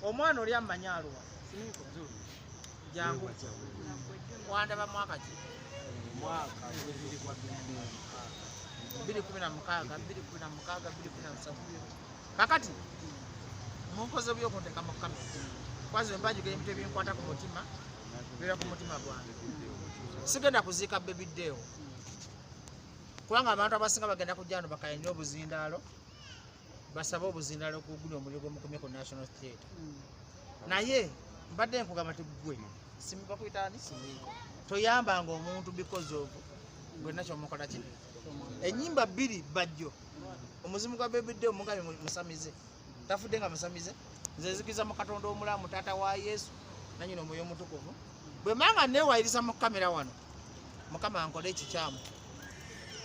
omwana oli amanyi aluwa jangu wandaba mwaka ki mwaka biri kumi na mukaaga biri kumi na mukaaga biri kumi na musanvu kakati munkoze byokunteka mu kamera kwazi wembajugera ebintu ebinkwata ku mutima bira ku mutima gwange sigenda kuziika bebi deewo kubanga abantu abasinga bagenda kujja wano bakaya nnyo obuzindaalo basabe obuzindaalo ku guli omuliro gwomukomye ku national theatre hmm. naye mbadde nkugamba ti gwe simibakuyitaani simiiko toyambanga omuntu because of gwena kyomukola kino enyimba bbiri bajjo omuzimu gwa bebidde omugabi musamize tafudde nga musamize nze nzikiza mu katonda omulamu taata wa yesu nanyina omwoyo omutukuvu bwe manga newayiriza mu kamera wano mukama ankole ekikyamu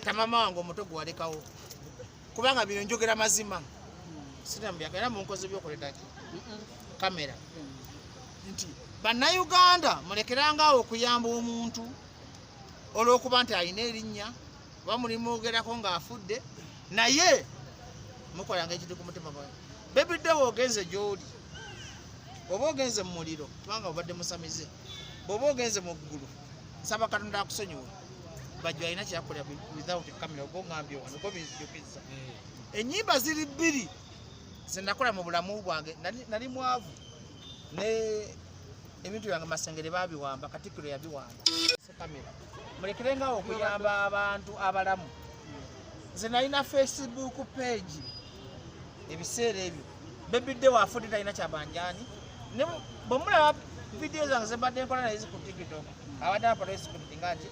tamama wange omuto gwe walekawo kubanga bino njogera mazima sitambyaka era munkozi byokoletaki kamera nti bannayuganda mulekerangaawo okuyamba omuntu olwokuba nti alina erinnya oba mulimwogerako ng'afudde naye mukolanga ekintu ku mutima gwa bebiddewo ogenze gy'oli oba ogenze mu muliro kubanga obadde musamize bwoba ogenze mu ggulu nsaba katonda akusonyiwe bajjo alina kyakolera without camera oba ongambye wano oba binzijukizza eh. ennyimba ziri bbiri zenakola mu bulamu bwange nali mwavu ne ebintu byange masengere babiwamba katikiro yabiwamba kamera mulekere nga okuyamba abantu abalamu nze nalina facebook page ebiseera ebyo bebidde wafudde talina kyabanjani bwemulaba vidiyo zange zebadde nkola naye ziku tiktok abadde aparesikuti nga nti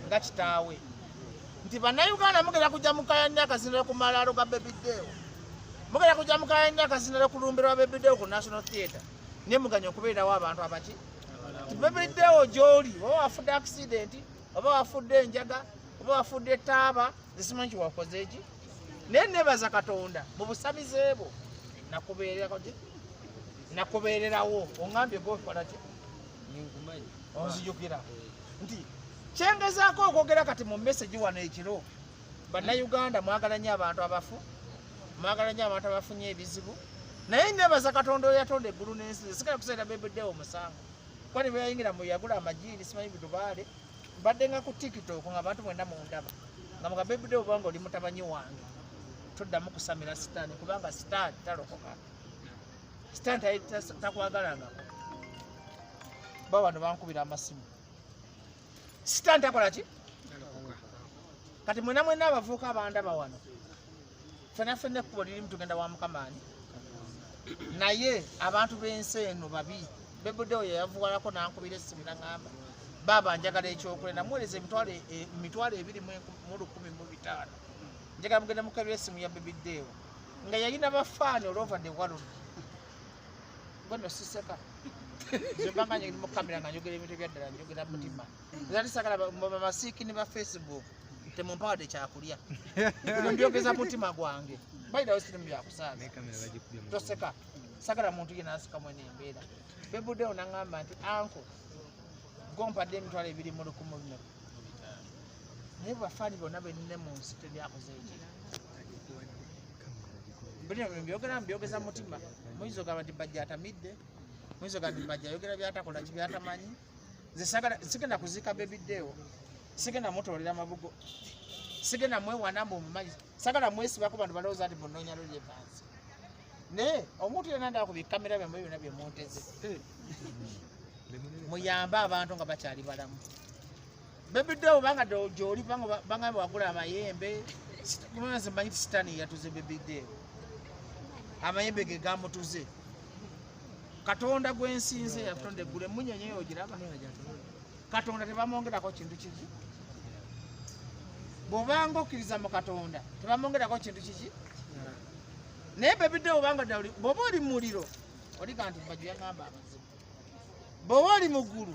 nga kitaawe nti bannayuganda mugenda kujja mukayanya akazinira ku malaalo ga bebideewo mugenda kujja mukayanya akazinira ku lumbiro wa bebideewo ku national theatre naye muganya okubeerawo abantu abaki bebiddewo gyoli oba wafudde accident oba wafudde enjaga oba wafudde taaba zisimanyi kiwakoze ki naye nebaza katonda mu busamize bwo nakubeereraki nakubeererawo ongambye gokolaki onzijukira nti kyengezaako okwogera kati mu message wano ekiro bannayuganda mwagala nyo abantu abafu mwagala nyo abantu abafunye ebizibu naye nebaza katonda oyatonda eggulu n'ensi esigala kuseera bebeddewo omusango kuba nebeyayingira mu yagula amajiini simanyi bidubaale mbadde nga ku tiktok nga abantu mwena mundaba nga mga bebeddewo obanga oli mutabanyi wange toddamu kusamira sitaani kubanga sitaani talokoka sitaani takwagalangako ba wano bankubira amasimu sitaani takola ki kati mwena mwena abavuuka abandaba wano fena fena ekkubo lirimu tugenda wa mukamaani naye abantu b'ensi eno babi bebudewo yeyavuwalako nankubira essimu naŋamba baaba njagala ekyokulya namuwereza emitwalo e, ebiri mu lukumi mu bitaano njagala mugenda mukabira essimu ya bebidewo nga yalina bafaani olova de walodi Bueno, sí seca. Zembanga nyingi mu kamera nga njogera ebintu ebyaddala njogera mutima. Era tisagala bamasiiki ne ba Facebook temumpawadde kyakulya. Ebyo mbyogeza mutima gwange. Bayira wesiri mu byakusaaga. Toseka. Sagala muntu yenna asika mwene embeera. Bebudeo nangamba nti anko gompadde emitwalo ebiri mu lukumu bino. naye bafani bona benine mu nsi tebyakoze ekyo bino byogera mubyogeza mutima muyinza ogamba nti bajja atamidde muyinza ogamba nti bajja ayogera byatakola ki byatamanyi nze sigenda kuziika bebidewo sigenda mutoolera mabugo sigenda mwewana mbu mumanyi sagala mwesibako bantu balowooza nti munonya lolyevansi naye omuntu yena ndaba ku bikamera byamwe byona byemunteze eh. muyambe abantu nga bakyali balamu bebidde obanga gyoli banga wagula amayembe mumezi manyi ti sitaani yatuze bebidde amayembe ge gamutuze katonda gwensinze yakutonda eggulu emunyenye yo ogiraba katonda tebamwongerako kintu kiki bwobanga okkiriza mu katonda tebamwongerako kintu kiki naye bebidde obanga ddala bwoba oli muliro oliga nti bajjo yaŋamba abazibu bwoba oli muggulu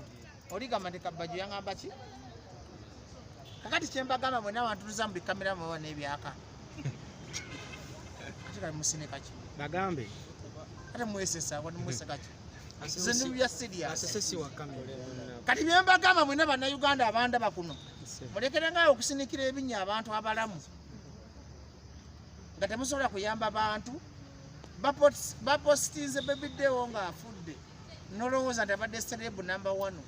oligamba nti kabajjo yaŋamba ki kakati kyembagamba mwena abantu tuza mu bikamera mwaba n'ebyaka kati kali musine kaki bagambe ate mwesesa wani mwese kaki kati byembagamba mwena bannayuganda abandaba kuno mulekerengaawo okusinikira ebinya abantu abalamu nga temusobola kuyamba bantu bapositinze bebidewo nga afudde nolowooza nti abadde serebu namba one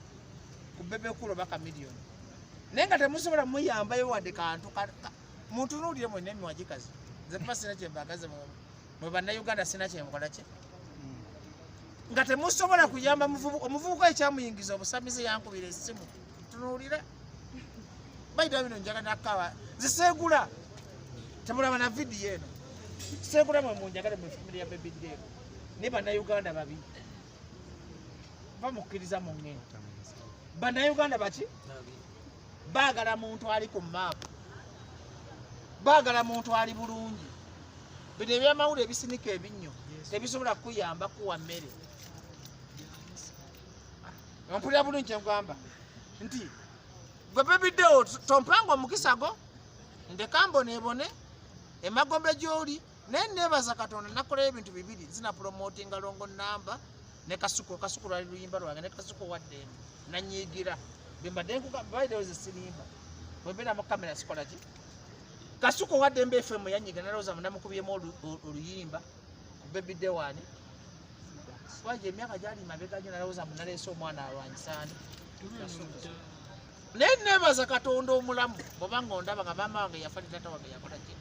ku bebekulu oba kamiliyoni naye nga temusobola muyambayo wadde kantu mutunuulire mwena emiwagikazi nze tuba sina kyembagaze mwe bannayuganda sina kyemukola kye nga temusobola kuyamba omuvubuka ekyamuyingiza obusamize yankubira esimu tunuulira baida bino njaga nakawa ziseegula temulaba na vidiyo eno seegula mwe munjagale mu famire ya bebi deero naye bannayuganda babi bamukkiriza mu ngendo bannayuganda baki baagala muntu ali ku maapu baagala muntu ali bulungi bino ebyamawulu ebisinika ebinnyo tebisobola kukuyamba kuwa mmere ompulira bulungi kyengamba nti gwe bebiddewo tompanga omukisago ndeka mbonebone emagombe gyoli naye nebaza katonda nakolera ebintu bibiri nzina promotinga longo namba ne kasuku kasuku lwali luyimba lwange ne kasuku waddembe nanyigira bembadde nkubaideweze sirimba bwembeera mu kamera sikola ki kasuku waddembe fm yanyiga nalowooza munamukubyemu oluyimba ku bebi dewani waje emyaka gyali mabega nyo nalowooza munaleese omwana alwanyisani naye nebaza katonda omulamu bwobanga ondaba nga maama wange yafa ne tata wange yakola kino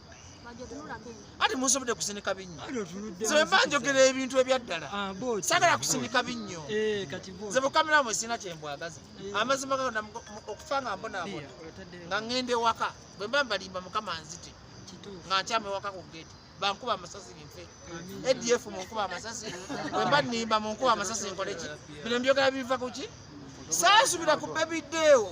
ati musobodde kusindika binnyo nze wemba njogera ebintu ebyaddala ah, sagala kusindika binnyo eh, nze bukamera mwe sirina kyembwagaza eh. amazima ga okufa nga mbonaabona nga ŋŋenda ewaka bwemba mbalimba mukama nzite nga nkyama ewaka ku geeti bankuba amasasi binfe adf munkuba amasasi wemba nimba munkuba amasasi nkoleki bino mbyogera biva kuki saasubira ku bebideewo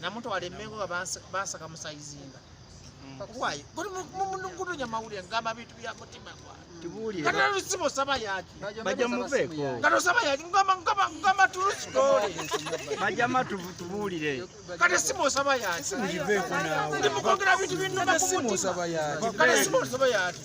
namutwala emengo nga basaka musayizinga kwayo guli mukunonya mawulire ngamba bintu bya mutima gwaatulusiba osaba yaki baja muveeko kati osaba yaki ngamba tulusi gole bajama tubuulire kati simu osaba yaki ndi mukogera bintu bintu kati simu osaba yaki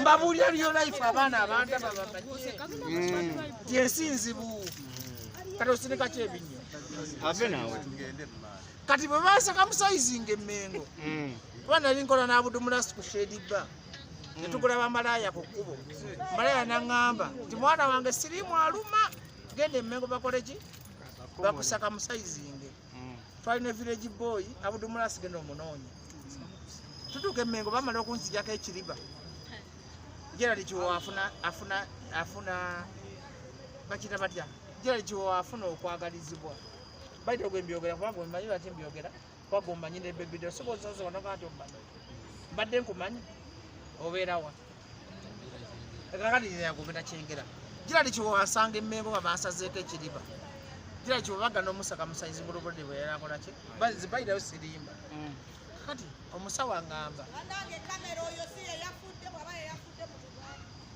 mbabuulira lyo life abaana abanda babamanye ti ensi nzibu kati osinika kyebinnyo kati bwe basaka musayizinga emmengo mm. kuba nali nkola n'abudumulasi ku shedibba mm. netugula bamalaaya ku kkubo malaaya naŋŋamba nti mwana wange sirimu aluma genda emmengo bakoleki bakusaka musayizinge mm. twali ne village boy abudumula asigenda omunoonya tutuuka emengo bamala okunzijako ekiriba gerald kiwo afuna afuna afuna bakita batya gerald kiwo afuna okwagalizibwa baita ogwe mbyogera kuba gwemanyi lwaki mbyogera kuba gwemanyi ne bebido sobola osobola nti omanyi mbadde nkumanyi obeerawa kakati yagobera kyengera gira ndi kiwewasanga emmengo nga bansazeeko ekiriba gira kiwebaga n'omusaka musayizi bulubulde bwe yalakola ki zibayirayo sirimba mm. kakati omusawo angamba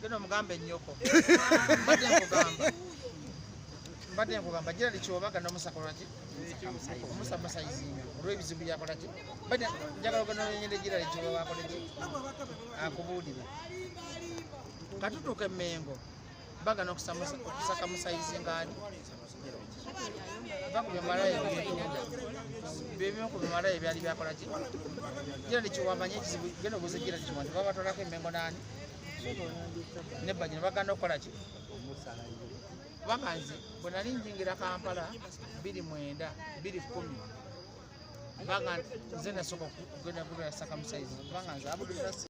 genda omugamba ennyoko mbadde nkugamba mbadde nkugamba gira ndi kiwebaga n'omusaka olwaki omusamasayizinga olwebizibu yakolaki bada njagala oganonyende gira ekiba wakoleki akubuulire katutuuka emengo bagana okusaka musayizinga ani va ku bimalayo byetunda byebimu ku bimalayo byali byakolaki gira nekiwamanya ekizibu genda obuuza gira nekiwa nti babatwalako emengo naani nebanyina bagana okukolaki bamazi bwe nali njingira kampala biri mwenda biri kumi kubanga nze nasooka okugenda gubera sakamusaizi kubanga nze abudde